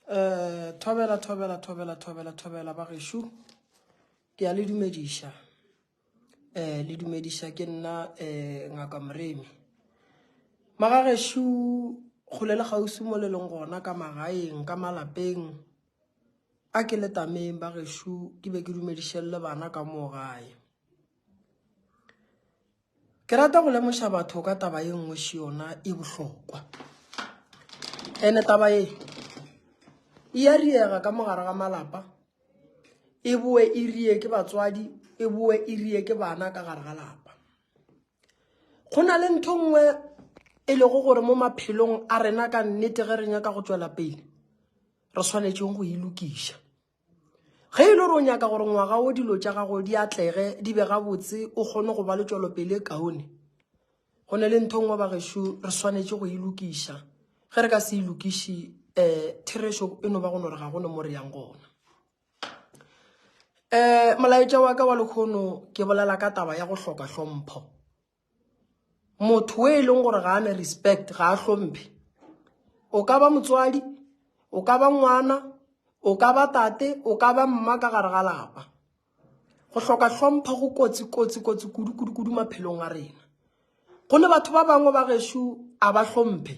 Eh, thobela thobela thobela thobela thobela ba gešo ke a le dumediša eh le dumediša ke nna eh ngaka moremi maga gešo kgole le kgauswi mo le leng gona ka magaeng ka malapeng a ke le tameng ba gešo ke be ke dumedišelele bana ka moo gae Ke rata go lemoša batho ka taba ye nngwe še yona e bohlokwa. Ene taba ye e ya riega ka mogare ga malapa, e boe e rie ke batswadi, e boe e rie ke bana ka gare ga lapa. Go na le ntho nngwe e lego gore mo maphelong a rena ka nnete ge re nyaka go tšwela pele, re swanetšeng go e lokiša. Ge e le gore o nyaka gore ngwaga wo dilo tša gago di atlege, di be gabotse, o kgone go ba le tšwelopele e kaone, go na le ntho nngwe bagešo re swanetše go e lokiša. Ge re ka se e lokiše um therešo e no ba go no re ga gone mo re yang gona. Um molaetša wa ka wa lekgono ke bolela ka taba ya go hloka hlompho. motho o e leng gore ga ane respect ga a hlomphe o ka ba motswadi o ka ba ngwana o ka ba tate o ka ba mma ka gare ga lapa go hloka hlompha go kotsi kotsi kotsi kudu kudu kudu maphelong a rena go ne batho ba bangwe ba gešo a ba hlomphe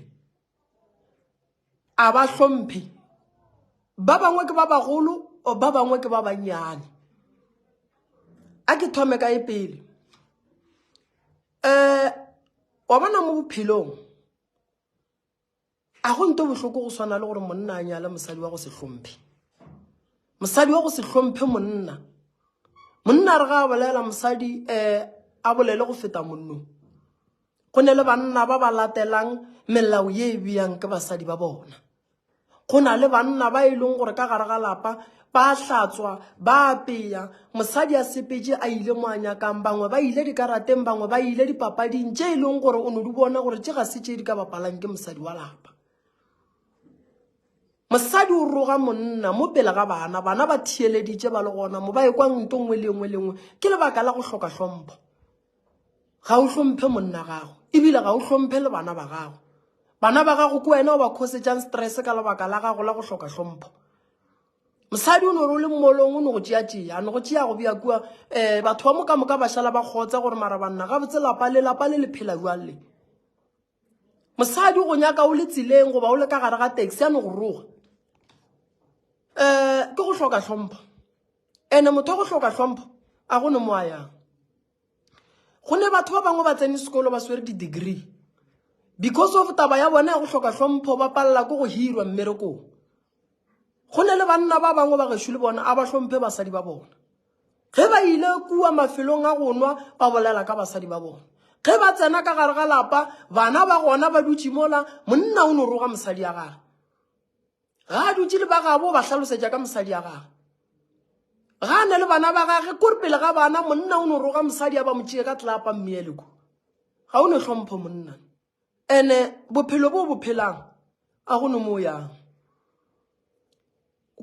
a ba hlomphe ba bangwe ke ba bagolo or ba bangwe ke ba bannyane a ke thome ka e pele um wa bona mo bophelong a go nto bohloko go swana le gore monna a nyale mosadi wa go se hlomphe mosadi wa go se hlomphe monna monna re ga a bolela mosadi um a bolele go feta monnong Go ne le banna ba ba latelang melao ye e beyang ke basadi ba bona. Go na le banna ba e leng gore ka gare ga lapa ba hlatswa ba apeya mosadi a sepetše a ile mo a nyakang bangwe ba ile dikarateng bangwe ba ile dipapading tše e leng gore o no di bona gore tše ga se tše di ka bapalang ke mosadi wa lapa mosadi o roga monna mo pele ga bana bana ba theeleditše ba le gona mo ba e kwang nto nngwe le nngwe le nngwe ke lebaka la go hloka hlompho Ga o hlomphe monna gago, ebile ga o hlomphe le bana ba gago. Bana ba gago ke wena o ba khosetšang stress ka lebaka la gago la go hloka hlompho. Mosadi o ne o le mmolong o ne go tšea tšea, a ne go tšea go bja kua um batho ba moka moka ba šala ba kgotsa gore mara banna gabotse lapa le lapa le le phela jwang le. mosadi go nyaka o le tseleng goba o le ka gare ga taxi a no go roga um ke go hloka hlompho ande motho wa go hloka hlompho a go ne mo a yang go ne batho ba bangwe ba tsene sekolo ba swere di-degree because of taba ya bona ya go hloka hlompho ba palela ko go hirwa mmerekong go ne le banna ba bangwe ba gešo le bona a ba hlomphe basadi ba bona ge ba ile kua mafelong a go nwa ba bolela ka basadi ba bona ge ba tsena ka gare ga lapa bana ba gona ba dutše mola monna o no roga mosadi ya gage ga a dutše le ba gabo ba hlalosetša ka mosadi ya gage ga a ne le bana ba gage kore pele ga bana monna o no roga mosadi ya ba mo tšee ka tlapa mmeeleko ga o ne hlompho monna Ene bophelo bo bo phelang a go no mo yang.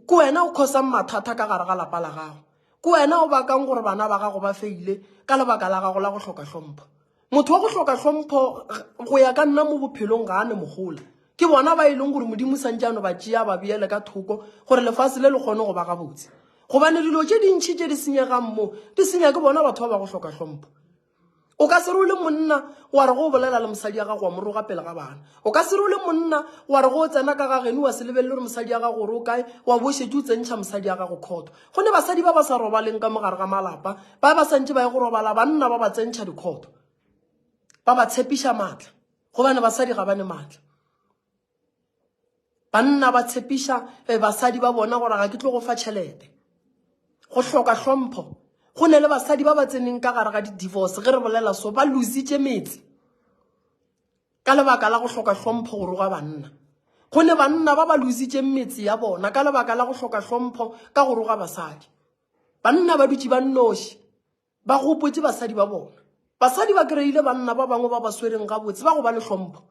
Ke wena o khosang mathata ka gare ga lapa la gago. Ke wena o bakang gore bana ba gago ba feile ka lebaka la gago la go hloka hlompho. Motho wa go hloka hlompho go ya ka nna mo bophelong ga a ne mogola. Ke bona ba e leng gore modimo santse ano ba tšea ba beele ka thoko gore lefatshe le le kgone go ba gabotse. Gobane dilo tše dintšhi tše di senyegang mo di senya ke bona batho ba ba go hloka hlompho. o ka se re o le monna wa re go o bolela le mosadi ya gago wa mo roga pele ga bana o ka se re o le monna wa re go o tsena ka ga geno wa se lebelele gore mosadi ya gago gore o kae wa bošetše o tsentšha mosadi ya gago khotho go ne basadi ba ba sa robaleng ka mogare ga malapa ba ba santše ba ye go robala banna ba ba tsentšha dikhotho ba ba tshepiša maatla gobane basadi ga ba ne maatla Banna ba tshepiša eh, basadi ba bona gore ga ke tlo go fa tšhelete. Go hloka hlompho. Go ne le basadi ba ba tseneng ka gare ga di-divorce ge re bolela so ba lositše metse ka lebaka la go hloka hlompho go roga banna. Go ne banna ba ba lositšeng metse ya bona ka lebaka la go hloka hlompho ka go roga basadi. Banna ba dutše ba nnoši. Ba gopotše basadi ba bona. Basadi ba kry-ile banna ba bangwe ba ba swereng gabotse ba go ba le hlompho.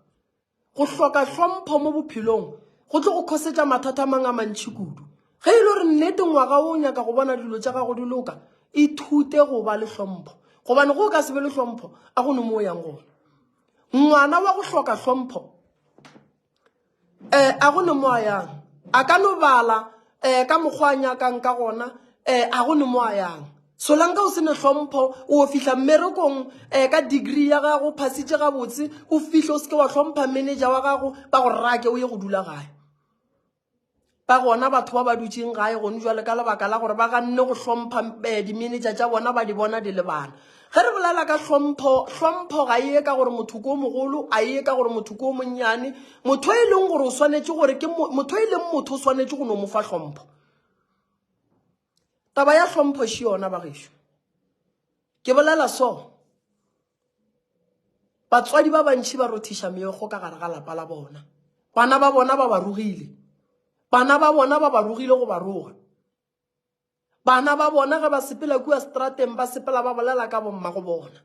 Go hloka hlompho mo bophelong go tlo go khosetša mathata a mang a mantšhi kudu. Ge e le gore nnete ngwaga o nyaka go bona dilo tša gago di loka, ithute go ba le hlompho. Gobane go o ka se be le hlompho, a go no mo o yang gona. Ngwana wa go hloka hlompho um a go ne mo a yang a ka no bala um ka mokgwa a nyakang ka gona um a go ne mo a yang solanka o se ne hlompho o fihla mmerekong um ka degree ya gago phasitše gabotse o fihle o seke wa hlompha manager wa gago ba go rake o ye go dula gae ka gona batho ba ba dutšeng gae gone jwale ka lebaka la gore ba ganne go hlompha eh, dimenetša tša bona ba di bona di lebana ge re bolela ka hlompho hlompho ga eye ka gore motho ko mogolo a eye ka gore motho ko monnyane motho e leng gore o swanetše gore ke motho e leng motho o swanetše go no mo fa hlompho taba ya hlompho še yona bagešo ke bolela so Batswadi ba bantši ba rothiša meokgo ka gare ga lapa la bona. Bana ba bona ba ba rogile. Bana ba bona ba ba rogile go ba roga. Bana ba bona ge ba sepela kua strateng ba sepela ba bolela ka bomma go bona.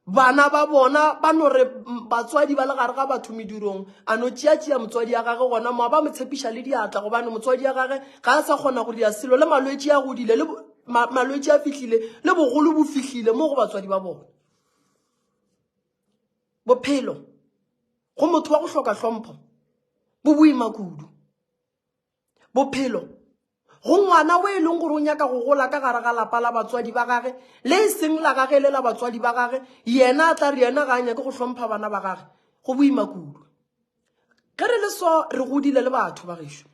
Bana ba bona ba no re batswadi ba le gare ga batho medirong a no tšeatšea motswadi ya gage gona mo ba mo tshepiša le diatla gobane motswadi ya gage ga a sa kgona go dia selo le malwetši a godile le Ma, malwetši a fihlile le bogolo bo fihlile mo go batswadi ba bona bophelo go motho wa go hloka hlompho bo boima kudu bophelo go ngwana o e leng gore o nyaka go gola ka gare ga lapa la batswadi ba gage le e seng la gage le la batswadi ba gage yena a tla re yena ga a nyake go hlompha bana ba gage go boima kudu ge re le so re godile le batho ba gešo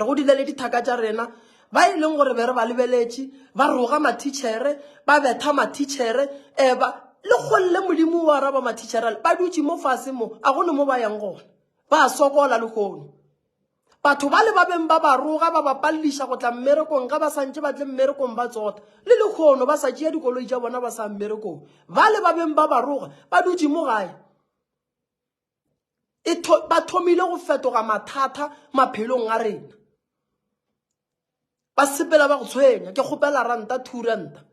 re godile le dithaka tša rena ba e leng gore be re ba lebeletše ba roga mathitšhere ba betha mathitšhere um ba le kgolle modimo wa araba mathitšhere ba dutše mo fase mo a gone mo ba yang gona ba sokola lehono batho ba le ba beng ba ba roga ba ba palliša go tla mmerekong ga ba santše ba tle mmerekong ba tsota le lehono ba sa tšea dikoloi tša bona ba sa mmerekong ba le ba beng ba ba roga ba dutše mo gae e tho, ba thomile go fetoga mathata maphelong a rena ba sepela ba go tshwenya ke kgopela ranta two ranta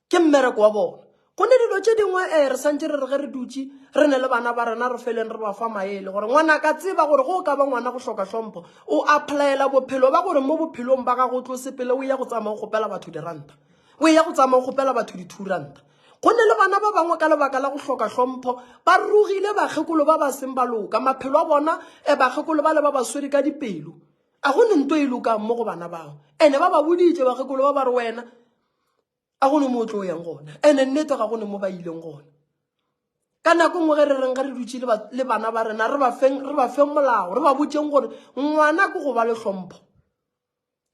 ke mmereko wa bona go ne dilo tše dingwe um re santse re re ge re dutse re ne le bana ba rena re feleng re ba fa maele gore ngwana ka tseba gore go ka ba ngwana go hloka hlompho o applyela bophelo ba gore mo bophelong ba gago o tlo sepele o ya go tsamaya go gopela batho diranta o ya go tsamaya go gopela batho di-two ranta Go ne le bana ba bangwe ka lebaka la go hloka hlompho ba rogile bakgekolo ba ba seng ba loka. Maphelo a bona e bakgekolo ba le ba ba swere ka dipelo. A go ne nto e lokang mo go bana bao. Ene ba ba boditše bakgekolo ba ba re wena a go ne mo o tlo yang gona. Ene nnete ga go ne mo ba ileng gona. Ka nako nngwe ge re reng ge re dutše le bana ba rena re ba feng re ba feng molao re ba botseng gore ngwana ke go ba le hlompho.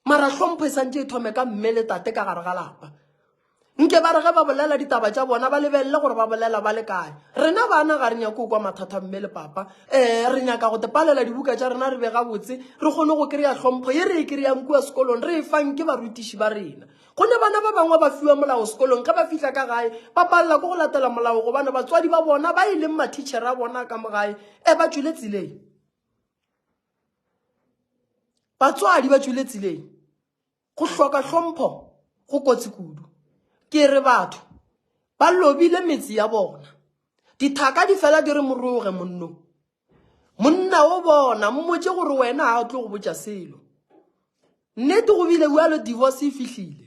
mara hlompho e santse e thome ka mme le tate ka gare ga lapa nke ba re ge ba bolela ditaba tša bona ba lebelele gore ba bolela ba le kae rena bana ga re nyake o kwa mathata mme le papa um re nyaka go tepalela dibuka tša rena re be gabotse re kgone go kry-a hlompho ye re e kry-ang kua sekolong re e fang ke barutiši ba rena go ne bana ba bangwe ba fiwa molao sekolong ge ba fitlha ka gae ba palela ko go latela molao gobane batswadi ba bona ba e leng mathitšhere a bona ka mo gae um ba tswile tseleng batswadi ba tswile tseleng go hloka hlompho go kotsi kudu ke re batho ba lobile metse ya bona dithaka di fela di re moroge monno monna o bona mmotse gore wena ga o tlo go botsa selo nnete go bile bjalo divorce e fihlile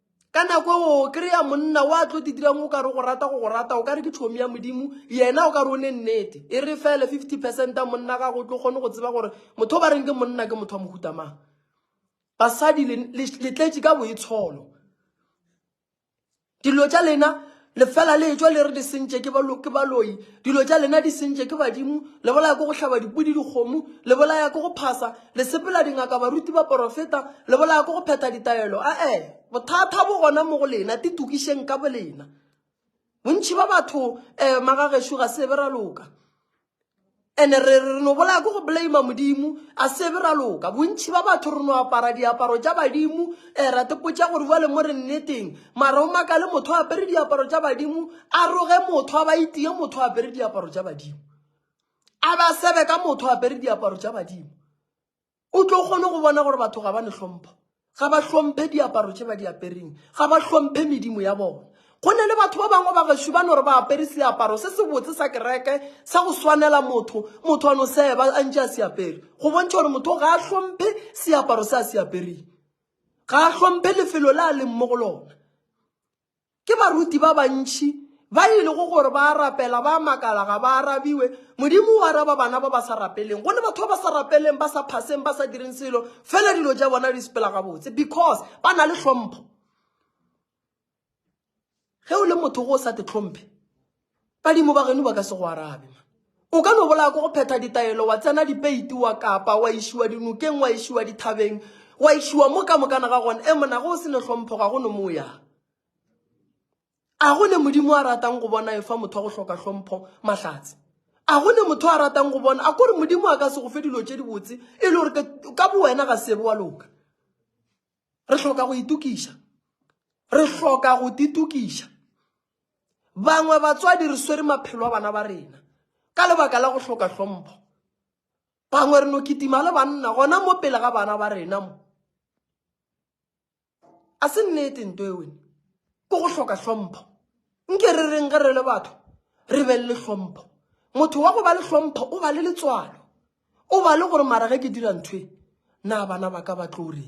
ka nako o kry-a monna wa tlo di dirang o ka re go rata go go rata o ka re ke tšhomi ya modimo yena o ka re o ne nnete e re fele fifty percent a monna gago o tlo kgone go tseba gore motho o ba reng ke monna ke motho wa mohutamang basadi letletše ka boitsholo dilo tša lena lefela le etšwa le re di sentše ke balo ke baloi dilo tša lena di sentše ke badimo le bolaya ko go hlaba dipudi dikgomo le bolaya ko go phasa le sepela dingaka baruti ba porofeta le bolaya ko go phetha ditaelo a-e bothata bo gona mo go lena ti tokišeng ka bolena bontšhi ba batho um magagešo ga se be ra loka ene re re no bolaya ko go blame modimo a sebe ra loka bontšhi ba batho re no apara diaparo tša badimo um eh, ra tepotša gore bjale mo re nneteng mara o maka le motho a apere diaparo tša badimo a roge motho a ba itie motho a apere diaparo tša badimo a ba sebe ka motho a apere diaparo tša badimo o tlo kgone go bona gore batho ga ba ne hlompho ga ba hlomphe diaparo tše ba di apereng ga ba hlomphe medimo ya bona go ne le batho ba bangwe ba gešo ba no re ba apere seaparo se se botse sa kereke sa go swanela motho motho a no seba a ntše a se apere go bontšha gore motho ga a hlomphe seaparo se a se apereng ga a hlomphe lefelo le a leng mo go lona Ke baruti ba bantši ba e lego gore ba a rapela, ba a makala ga ba arabiwe. Modimo o araba bana ba ba sa rapeleng. Go ne batho ba ba sa rapeleng, ba sa phaseng, ba sa direng selo, fela dilo tša bona di sepela gabotse because ba na le hlompho. Ge o le motho go o sa te hlomphe, Badimo ba geno ba ka se go arabe. Ma. O ka no bolaya ko go phetha ditaelo, wa tsena dipeiti, wa kapa, wa išiwa dinokeng, wa išiwa dithabeng, wa išiwa mo ka mokana ga gona. E mona, ge o se ne hlompho, ga go ne mo o yang. A go ne Modimo a ratang go bona efa motho wa go hloka hlompho mahlatse? A go ne motho a ratang go bona? A kore Modimo a ka se go fe dilo tše dibotse e le gore ka bowena ga sebe wa loka? re hloka go itukiša re hloka go titukiša bangwe batswadi re swere maphelo a bana ba rena ka lebaka la go hloka hlompho bangwe re no kitima le banna gona mo pele ga bana ba rena mo a se nnete nto ewe ko go hloka hlompho nke re reng ge re le batho re be le hlompho motho wa go ba le hlompho o ba le letswalo O ba le gore mara ge ke dira nthwe na bana ba ka ba tlo reng?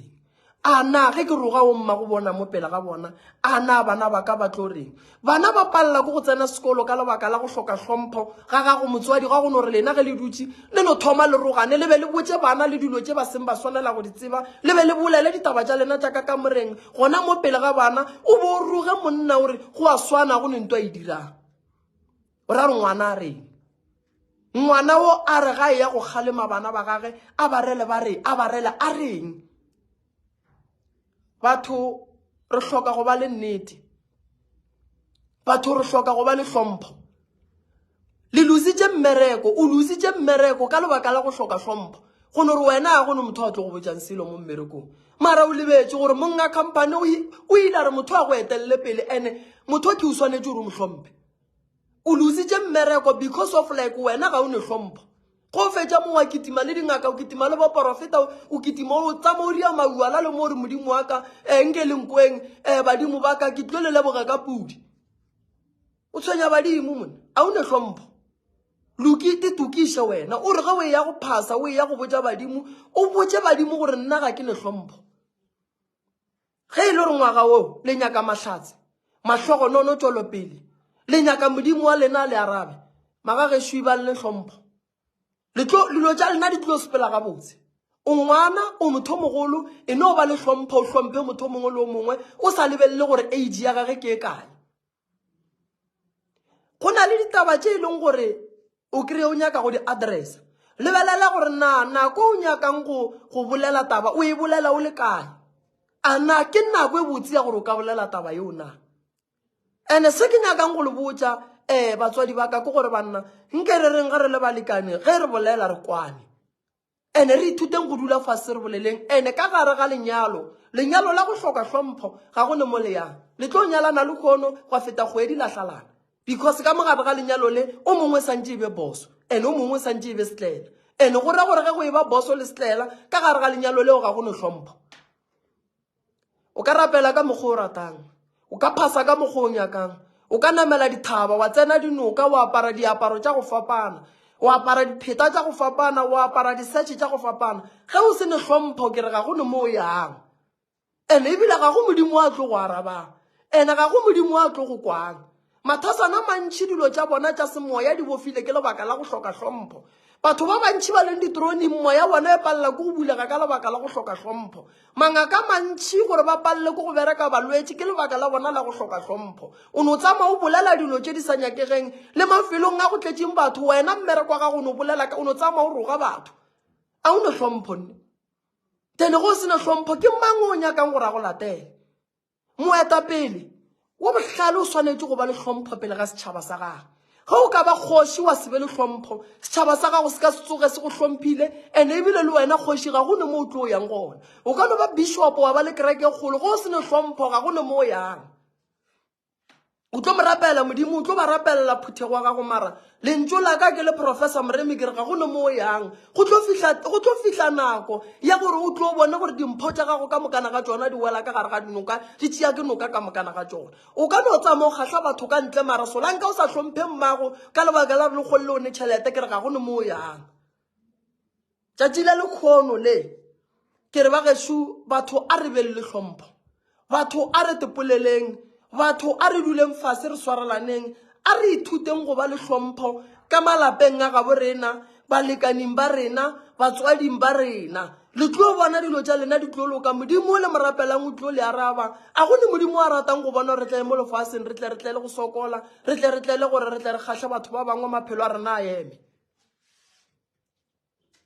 A na ge ke roga o mma go bona mo pela ga bona, a na bana ba ka ba tlo reng? Bana ba palela ko go tsena sekolo ka lebaka la go hloka hlompho ga gago motswadi ga go no re lena ge le dutse le no thoma le rogane le be le botse bana le dilo tse ba seng ba swanela go di tseba le be le bolele ditaba tša lena tša ka ka moreng gona mo pele ga bana o bo o roge monna o re go a swana go ne nto a e dirang O ra re ngwana a reng? Ngwana o a re ga e ya go kgalema bana ba gage a ba rele ba re a ba rele a reng? Batho re hloka go ba le nnete. Batho re hloka go ba le hlompho. Le lositše mmereko, o lositše mmereko ka lebaka la go hloka hlompho. Go no re wena a go no motho a tlo go botšang selo mo mmerekong. Mara o lebetše gore monga company o ile a re motho a go etelele pele ene motho ke o swanetše gore o mo hlomphe. o lositše mmereko because of like wena ga o ne hlompho go fetša mo wa kitima le dingaka o kitima le boporofeta o kitima o tsama o ria mauala le mo gore modimo wa ka um nke lenkweng um eh, badimo ba ka ke tlo le leboga ka pudi o tshwenya badimo mone a o ne hlompho lokite tokiše wena o re ge o e ya go phasa o e ya go botja badimo o botse badimo gore nna ga ke ne hlompho Ge e le gore ngwaga wo le nyaka mahlatse, mahlogonono, tšwelopele, le nyaka Modimo wa lena a le arabe, magagešwi ba le hlompho, le tlo, dilo tša lena di tlo sepela gabotse. O ngwana, o mothomogolo, e no ba le hlompho, o hlomphe motho o mongwe le o mongwe, o sa lebelele gore age ya gage ke e kae. go na le ditaba tše e leng gore o kry o nyaka go di-addressa lebelela gore na nako o nyakang go bolela taba o e bolela o le kae a na ke nako e botse ya gore o ka bolela taba yeo na and-e se ke nyakang go le botsa um batswadi ba ka ke gore banna nke re reng ge re le balekane ge re bolela re kwane Ene re ithuteng go dula fase re boleleng ene ka gare ga lenyalo. Lenyalo la go hloka hlompho, ga go ne mo le yang. Le tlo nyalana lehono gwa feta kgwedi la hlalana. Because ka mo gare ga lenyalo le, o mongwe santše e be boso, ene o mongwe santše e be setlaela. Ene go ra gore ge go eba boso le setlaela, ka gare ga lenyalo leo ga go no hlompho. O ka rapela ka mokgwa o ratang. O ka phasa ka mokgwa o nyakang. O ka namela dithaba, wa tsena dinoka, wa apara diaparo tša go fapana, wa apara dipheta tša go fapana, wa apara disetšhe tša go fapana. Ge o se ne hlompho, ke re ga go ne mo o yang. And-e ebile ga go Modimo a tlo go arabang. And-e ga go Modimo a tlo go kwang. Mathasana a mantši dilo tša bona tša semoya di bofile ke lebaka la go hloka hlompho. Batho ba bantši ba leng ditoroneng moya bona e palela ke go bulega ka lebaka la go hloka hlompho. Mangaka a mantši gore ba palele ke go bereka balwetši ke lebaka la bona la go hloka hlompho. O no tsamaya o bolela dilo tše di sa nyakegeng le mafelong a go tletšeng batho, wena mmereko wa gago o no bolela o no tsamaya o roga batho. A o ne hlompho nne? Tene go se ne hlompho ke mang o nyakang gore a go latele? Moetapele wo bohlale o swanetše go ba le hlompho pele ga setšhaba sa gagwe. Ge o ka ba kgoši wa se be le hlompho, setšhaba sa gago se ka se tsoge se go hlomphile, ene ebile le wena kgoši ga go ne mo o tlo yang gona. O ka no ba bishopo wa ba le kereke e kgolo, ge o se ne hlompho ga go ne mo o yang. o tlo mo rapela modimo o tlo ba rapelela phuthego wa gago mara lentso la ka ke le professor moremi ke re ga go ne mo o yang go tlo fihla nako ya gore o tlo bone gore dimpho tša gago ka mokana ga tsona di wela ka gare ga dinoka di tšea ke noka ka mokana ga tsona o ka no tsamaya o kgatlha batho ka ntle mara solanka o sa tlhomphe mmago ka lebaka la re le kgolele o ne tšhelete ke re ga go ne mo o yang Tšatši la lekhono le, ke re bagešo batho a re beng le hlompho, batho a re tepoleleng, batho a re duleng fase re swaralaneng, a re ithuteng go ba le hlompho ka malapeng a gabo rena, balekaning ba rena, batswading ba rena. Le tlo bona dilo tša lena di tlo loka, Modimo o le mo rapelang o tlo le araba. A go ne Modimo a ratang go bona gore re tle mo lefaseng re tle re tle le go sokola, re tle re tle le gore re tle re kgahle batho ba bangwe maphelo a rena a eme?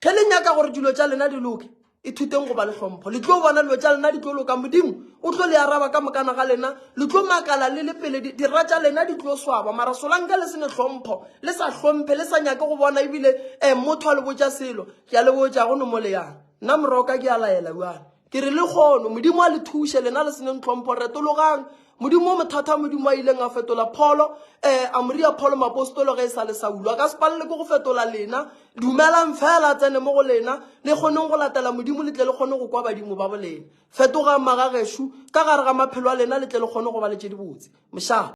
ge le nyaka gore dilo tša lena di loke ithuteng go ba le hlompho le tlo bona dilo tša lena di tlo loka modimo o tlo le araba ka mokana ga lena le tlo makala le le pele dira tša lena di tlo swaba mara solanka le se ne hlompho le sa hlomphe le sa nyake go bona ebile um motho a le botša selo ke a le botša go nomo le yang nna moroka ke a laela bjale Ke re le kgono, Modimo a le thuše, lena le senyeng tlhompho, retologang. Modimo o mothata, Modimo a ileng a fetola Pholo, eh, a mo ria Pholo mapostolo ge e sa le Saulo. A ka se palelwe ke go fetola lena. Dumelang feela a tsene mo go lena, le kgoneng go latela Modimo, le tle le kgone go kwa badimo ba bolena. Fetogang magagešo, ka gare ga maphelo a lena, le tle le kgone go ba le tše dibotse. Mošaa.